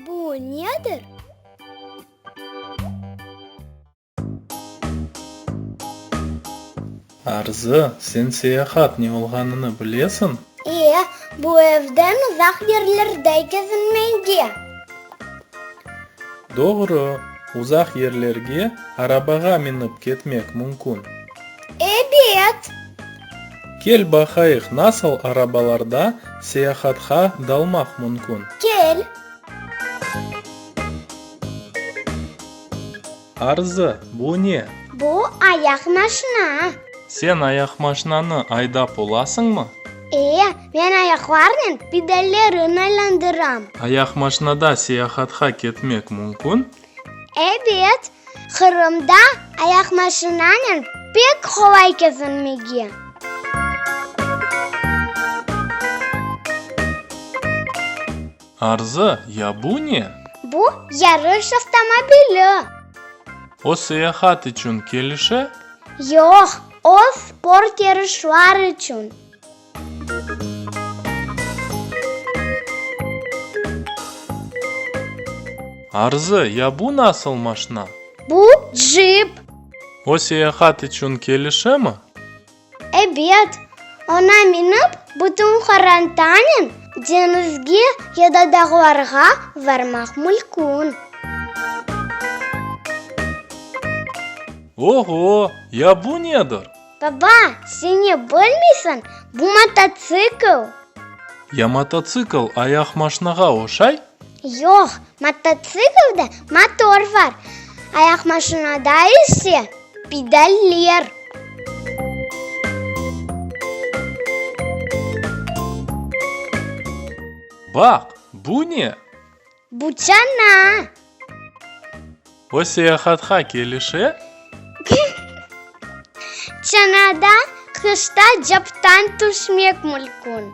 Bu nedir? Arzı, sen seyahat ne olğanını bilesiñ? E, bu evden uzaq yerlerde kezinmege. Doğru, uzaq yerlerge arabağa minip ketmek mümkün. Ebet! Kel baqayıq nasıl arabalarda seyahatqa dalmaq mümkün. Kel! Arzı, bu ne? Bu ayaq maşina. Sen ayaqmaşinanı aydap olasıñmı? E, men ayaqlarnen pedallerın aylandıram. Ayaqmaşinada seyahatqa ketmek mümkün? Ebet, Qırımda ayaqmaşinanen pek qolay kezinmege. Arzı, Ya bu ne? Bu, yarış avtomobili. O seyahat içün kelişe? Yoq, o sport yarışlar içün. Arzı, ya bu nasıl maşna? Bu, cip. O seyahat içün kelişemi? Ebet. Ona minip, bütün Qorantanen deñizge ya da dağlarğa varmaq mülkün. Oho, ya bu nedir? Baba, sen ne bilmeysiñ, bu mototsikl. Ya mototsikl ayaq maşnağa oşay? Yoq, mototsiklde motor var, ayaq maşnada ise pedaller. Baq, bu ne? Bu çana. O seyahatqa kelişe? Çanada qışta captan tüşmek mülkün.